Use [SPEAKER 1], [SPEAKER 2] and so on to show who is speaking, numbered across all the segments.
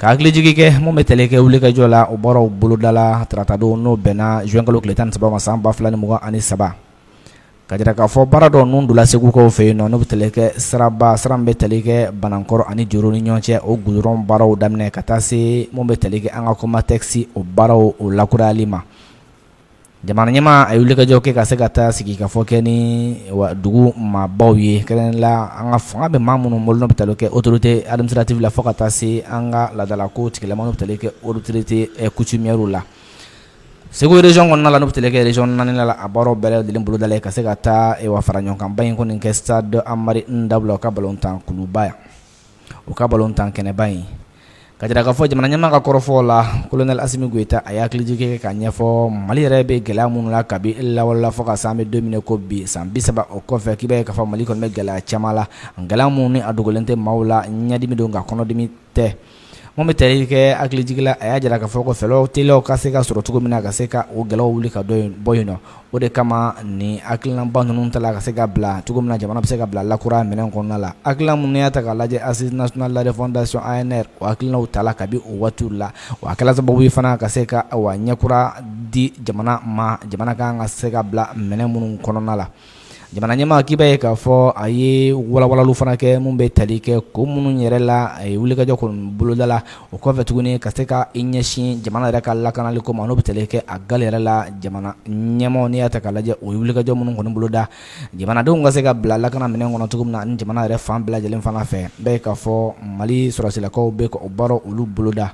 [SPEAKER 1] Ka hakilijigin kɛ mun bɛ tali kɛ wulikajɔ la o baaraw bolodala tarata don n'o bɛnna zuwɛnkalo tile tan saba ma san ba fila ni mugan ani saba ka jira k'a fɔ baara dɔ ninnu donna segukaw fɛ yen n'o bɛ tali kɛ sira min bɛ tali kɛ Banankɔrɔ ani Joro ni ɲɔgɔn cɛ o gudurɔn baaraw daminɛ ka taa se mun bɛ tali kɛ an ka Komatɛsi o baaraw o lakurayali ma jamana ɲɛmaa a ye wulikajɔ kɛ ka se ka taa sigikafɔ kɛ ni dugu maabaw ye kɛrɛnkɛrɛnnenya la an ka fanga bɛ maa minnu bolo n'o bɛ tali kɛ autorité administrative la fo ka taa se an ka laadalako tigilamɔgɔw n'o bɛ tali kɛ autorité coutumière la Segu région kɔnɔna la n'o bɛ tali kɛ région naani la a baaraw bɛɛ lajɛlen bolodala ka se ka taa wa faraɲɔgɔnkanba in kɔni kɛ stade Amari Ndawu la u ka balontan kuluba yan u ka balontan kɛnɛba in ka jira k'a fɔ jamana ɲɛmaa ka kɔrɔfɔ la kolonɛli Asimi Goyita a ye hakilijigin kɛ ka ɲɛfɔ mali yɛrɛ bɛ gɛlɛya minnu la kabi lawale la fo ka se an bɛ don min ko bi san bi saba o kɔfɛ k'i b'a ye k'a fɔ mali kɔni bɛ gɛlɛya caman la gɛlɛya minnu ni a dogolen tɛ maaw la ɲɛdimi don nka kɔnɔdimi tɛ Mun bɛ tali kɛ hakilijigin la a y'a jira k'a fɔ ko fɛɛrɛw teliya ka se ka sɔrɔ cogo min na ka se ka o gɛlɛyaw wuli ka dɔ bɔ yen nɔ, o de kama nin hakilinaba ninnu tala ka se ka bila cogo min na jamana bɛ se ka bila lakura minɛn kɔnɔna la, hakilina minnu n'i y'a ta k'a lajɛ assise nationale de la refondation, ANR, o hakilinaw tala kabi o waatiw la, wa a kɛra sababu ye fana ka se ka ɲɛkura di jamana ma jamana ka kan ka se ka bila minɛn minnu kɔnɔna la jamana ɲɛmaa k'i b'a ye k'a fɔ a ye walawalaliw fana kɛ mun bɛ tali kɛ ko minnu yɛrɛ la a ye wulikajɔ kɔni bolodala o kɔfɛ tuguni ka se ka i ɲɛsin jamana yɛrɛ ka lakanali ko ma n'o bɛ tali kɛ a galɛ yɛrɛ la jamana ɲɛmaa n'i y'a ta k'a lajɛ o ye wulikajɔ minnu kɔni boloda jamanadenw ka se ka bila lakana minɛn kɔnɔ cogo min na ani jamana yɛrɛ fan bɛɛ lajɛlen fana fɛ i b'a ye k'a fɔ mali sɔrɔdasilakaw bɛ baara olu boloda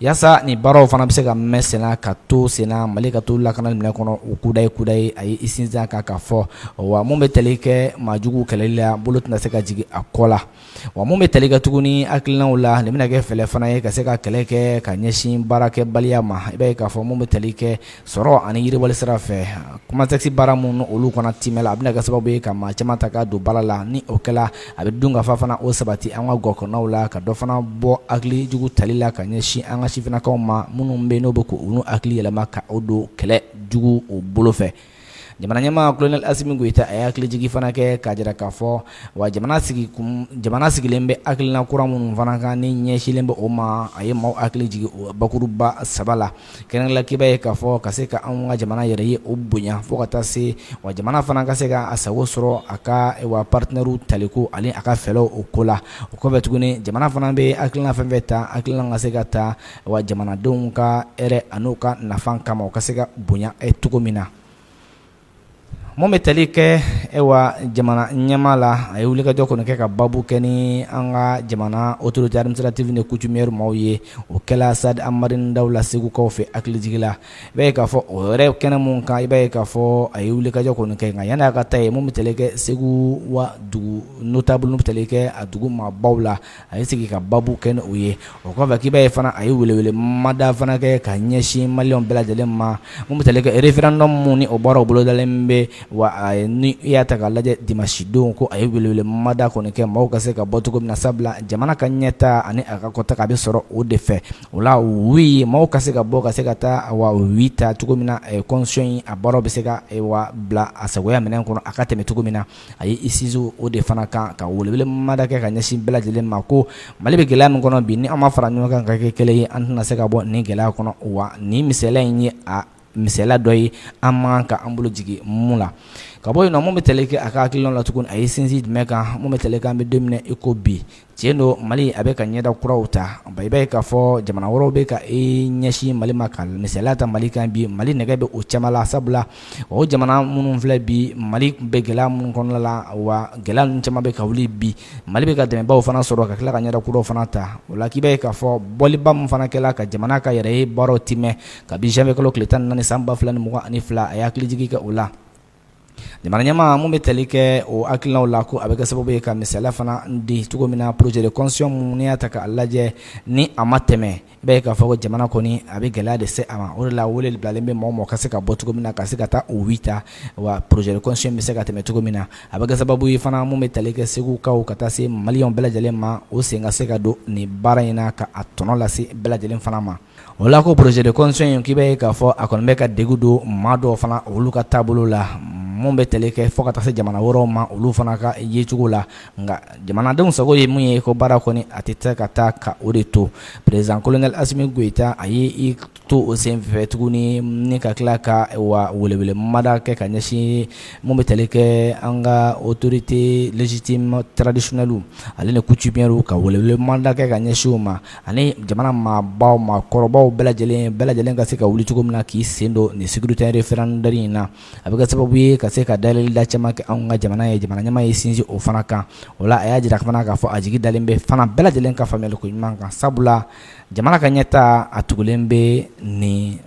[SPEAKER 1] yaasa nin baaraw fana bɛ se ka mɛn senna ka to senna mali ka to lakana minɛn kɔnɔ o kudayi kudayi a y'i sinsin a kan k'a fɔ wa mun bɛ tali kɛ maajugu kɛlɛli la bolo tɛna se ka jigin a kɔ la wa mun bɛ tali kɛ tuguni hakilinaw la nin bɛna kɛ fɛlɛ fana ye ka se ka kɛlɛ kɛ ka ɲɛsin baarakɛbaliya ma i b'a ye k'a fɔ mun bɛ tali kɛ sɔrɔ ani yiriwali sira fɛ Komatɛsi baara minnu olu kɔni timɛla a bɛna kɛ sababu ye ka maa caman ta ka don baara la ni o kɛra a bɛ dunkafa fana o sabati an ka gɔ kɔnɔw la ka dɔ fana bɔ hakilijugu tali la ka ɲɛsin an ka sifinnakaw ma minnu bɛ n'u bɛ k'olu hakili yɛlɛma k'u don kɛlɛjuguw bolo fɛ jamana ɲɛmaa kolonɛli Asimi Goyita a ye hakilijigin fana kɛ k'a jira k'a fɔ wa jamana sigilen bɛ hakilina kura minnu fana kan ni ɲɛsinlen bɛ o ma a ye maaw hakili jigin o bakuruba saba la kɛrɛnkɛrɛnnenya k'i b'a ye k'a fɔ ka se ka an ka jamana yɛrɛ ye o bonya fo ka taa se wa jamana fana ka se ka a sago sɔrɔ a ka wa partenaires taliko ani a ka fɛlɛw o ko la o kɔfɛ tuguni jamana fana bɛ hakilina fɛn fɛn ta hakilina ka se ka ta wa jamanadenw ka hɛrɛ an'u ka nafa kama o ka se ka bonya cogo min na Mun bɛ tali kɛ e wa jamana ɲɛmaa la a ye wulikajɔ kɔni kɛ ka baabu kɛ ni an ka jamana autorité administrative ni coutumière maaw ye o kɛla stade Amari Ndaw la segukaw fɛ hakilijigi la i b'a ye k'a fɔ o yɛrɛ kɛnɛ mun kan i b'a ye k'a fɔ a ye wulikajɔ kɔni kɛ nka yanni a ka taa yen mun bɛ tali kɛ segu wa dugu notable mun bɛ tali kɛ a dugu maabaw la a ye sigi ka baabu kɛ n'u ye o kɔfɛ k'i b'a ye fana a ye welewele mada fana kɛ ka ɲɛsin maliyɛnw bɛɛ lajɛlen ma mun bɛ tali kɛ référendum mun ni o baara bolodalen bɛ wa a ye ni i y'a ta k'a lajɛ dimasidon ko a ye welewele mada kɔni kɛ maaw ka se ka bɔ cogo min na sabula jamana ka ɲɛtaa ani a ka kɔta a bɛ sɔrɔ o de fɛ o la maaw ka se ka bɔ ka se ka taa wa oui ta cogo min na constitution in a baara bɛ se ka wa bila a sagoya minɛn kɔnɔ a ka tɛmɛ cogo min na a ye sinsin o de fana kan ka welewele mada kɛ ka ɲɛsin bɛɛ lajɛlen ma ko mali bɛ gɛlɛya min kɔnɔ bi ni an ma fara ɲɔgɔn kan ka kɛ kelen ye an tɛna se ka bɔ nin gɛlɛya kɔnɔ wa nin misaliya in ye a misaliya dɔ ye an man kan ka an bolo jigin mun la ka bɔ yen nɔ mun bɛ tali kɛ a ka hakilina la tuguni a ye sinsin jumɛn kan mun bɛ tali kɛ an bɛ don min na i ko bi Cɛn don mali a bɛ ka ɲɛda kuraw ta k'i b'a ye k'a fɔ jamana wɛrɛw bɛ ka e ɲɛsin mali ma ka misaliya ta mali kan bi mali nɛgɛ bɛ o caman la sabula o jamana minnu filɛ bi mali bɛ gɛlɛya minnu kɔnɔna la wa gɛlɛya ninnu caman bɛ ka wuli bi mali bɛ ka dɛmɛbaw fana sɔrɔ ka tila ka ɲɛda kuraw fana ta o la k'i b'a ye k'a fɔ bɔliba min fana kɛra ka jamana ka yɛrɛ ye baaraw timɛ kabi janvier kalo tile tan ni naani san ba fila ni mugan ani fila a ye hakilijigin kɛ o la Jamana ɲɛmaa mun bɛ tali kɛ o hakilinaw la ko a bɛ kɛ sababu ye ka misaliya fana di cogo min na projet de constitution mun n'i y'a ta k'a lajɛ ni a ma tɛmɛ i b'a ye k'a fɔ ko jamana kɔni a bɛ gɛlɛya de se a ma o de la wele bilalen bɛ maa o maa ka se ka bɔ cogo min na ka se ka taa o oui ta wa projet de constitution bɛ se ka tɛmɛ cogo min na a bɛ kɛ sababu ye fana mun bɛ tali kɛ segukaw ka taa se maliyɛnw bɛɛ lajɛlen ma o sen ka se ka don nin baara in na ka a tɔnɔ lase bɛɛ lajɛlen fana ma O la ko projet de constitution in k'i b'a ye k'a fɔ a kɔni bɛ ka degun don maa dɔw fana olu ka taabolo la mun bɛ tali kɛ fo ka taa se jamana wɛrɛw ma olu fana ka yecogo la nka jamanadenw sago ye min ye ko baara kɔni a tɛ se ka taa ka o de to président colonel Assimi Goïta a y'i to o senfɛ tuguni ni ka tila ka wa welewele mada kɛ ka ɲɛsin mun bɛ tali kɛ an ka autorité légitime traditionnelle ale ni coutumière ka welewele mada kɛ ka ɲɛsin u ma ani jamana maabaw maakɔrɔbaw bɛɛ lajɛlen bɛɛ lajɛlen ka se ka wuli cogo min na k'i sen don nin scrutin référendaire in na a bɛ kɛ sababu ye ka se ka dala caman kɛ an ka jamana ye jamana ɲɛmaa ye sinsin o fana kan o la a y'a jira fana k'a fɔ a jigi dalen bɛ fana bɛɛ lajɛlen ka faamuyali ko ɲuman kan sabula jamana ka ɲɛtaa a tugulen bɛ nin